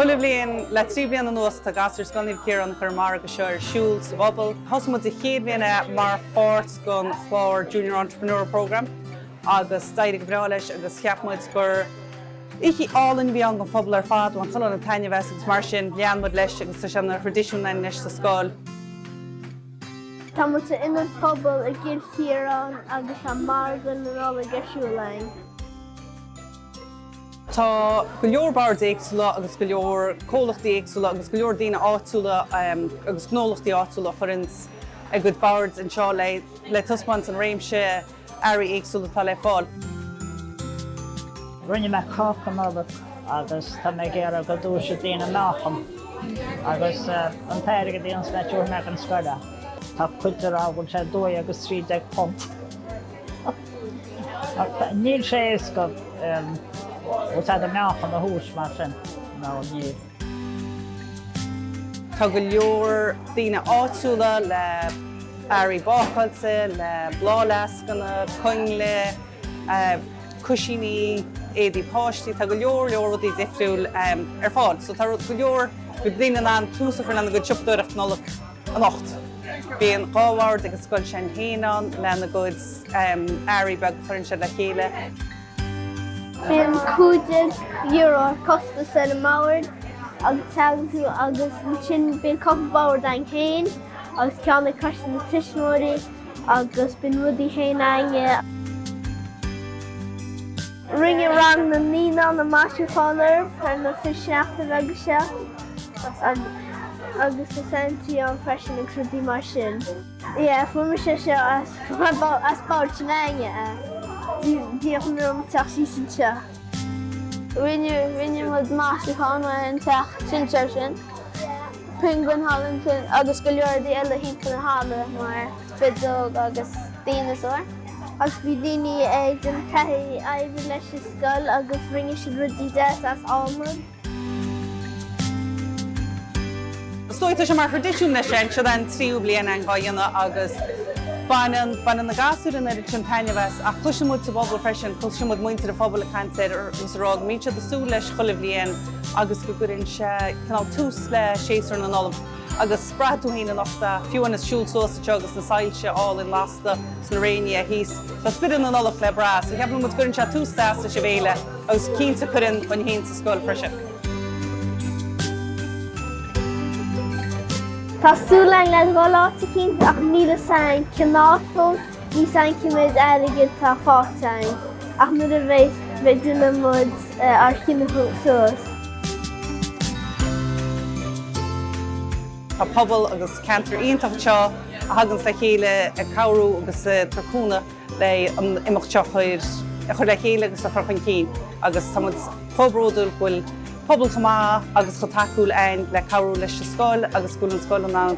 Chuile bhliain le trí bliana anuas tá gasúir Scoil Naomh Ciarán ag cur an margadh seo ar siúl sa bpobal. Thosaigh muid an chéad bhliain é mar pháirt den chlár Junior Entrepreneur Programme agus d'éirigh go breá leis agus cheap muid gur oíche álainn a bhí ann don phobal ar fad, bhain chuile dhuine taitneamh as agus mar sin lean muid leis agus tá sé ina thraidisiún againn anois sa scoil. Tá muid san Ionad Pobail i gCill Chiaráin agus tá Margadh na Nollag ar siúl againn. Tá go leor bord éagsúla agus go leor comhlachtaí éagsúla agus go leor daoine áitiúla agus gnólachtaí áitiúla a chuireanns a gcuid bord anseo le taispeáint an réimse earraí éagsúla atá le fáil. Rinne mé cáca Nollag agus tá mé ag iarradh go dtomhaisfidh daoine meáchan agus an t-airgead a dhéanfas mé tiúrfaidh mé ag an scoil é. Tá cuid ag rá go bhfuil sé dó agus trí déag punt. Níl sé éasca Is deacair an meáchan a thomhas mar sin, nó níl. Tá go leor daoine áitiúla le hearraí bácáilte, le bláthfhleascanna, coinnle, cuisíní, éadaí páistí, tá go leor leor rudaí difriúil ar fáil. So tá go leor daoine in ann tús a chur lena gcuid siopadóireacht Nollag. anocht. Bíonn dhá bhord ag an scoil iad féin ann lena gcuid earraí beaga a chuireann siad le chéile. Bíonn €15 ar chostas ar an mbord agus teagann tú agus ansin bíonn cupla bord againn féin agus ceann ag coiste na tuismitheoirí agus bíonn rudaí féin againne. Rinne rang na naíonán na maisiúcháin ar feadh na trí seachtaine bheaga seo agus is Santy ann freisin agus rudaí mar sin. Yeah, fuair mise seo as Bád na Finne, bhíodh an rud ag teacht síos anseo. Rinne muid maisiúchán ar an teach sinséir sin, pinguin thall ansin agus go leor rudaí eile thimpeall na halla mar spideog agus díneasóir. Ach bhí daoine ag an gcathair ag obair leis an scoil agus rinne siad rudaí deasa as adhmad. Is dóigh tá sé mar thraidisiún anois, siod é an tríú bliain é dhá dhéanamh agus baineann, baineann na gasúir an oiread sin taitneamh as ach cloiseann muid sa bpobal freisin, cloiseann muid muintir an phobail ag caint air agus ag rá go mbíonn siad ag súil leis chuile bhliain agus go gcuireann sé cineál tús le séasúr na Nollag. agus braithfidh tú fhéin anocht a, fiú anois, siúl suas anseo agus na soilse álainn lasta sna crainnte thíos. Tá spiorad na Nollag le brath, so ceapann muid go gcuireann sé tús deas leis an bhféile agus cinnte cuireann dúinn fhéin sa scoil freisin. Tá súil againn a dhul áit eicínt ach níl a fhios againn cineál. Níl 's againn cé méid airgid atá fáighte againn ach nuair a bheidh, déanfaidh muid ár gcinneadh suas. Tá pobal agus ceantar iontach anseo a thaganns le chéile ag cabhrú agus ag tabhairt cúnamh le an imeacht seo a chur le chéile agus a chur chun cinn agus tá muid chomh bródúil go bhfuil pobal chomh maith agus chomh tacúil againn le cabhrú leis an scoil agus go bhfuil an scoil in ann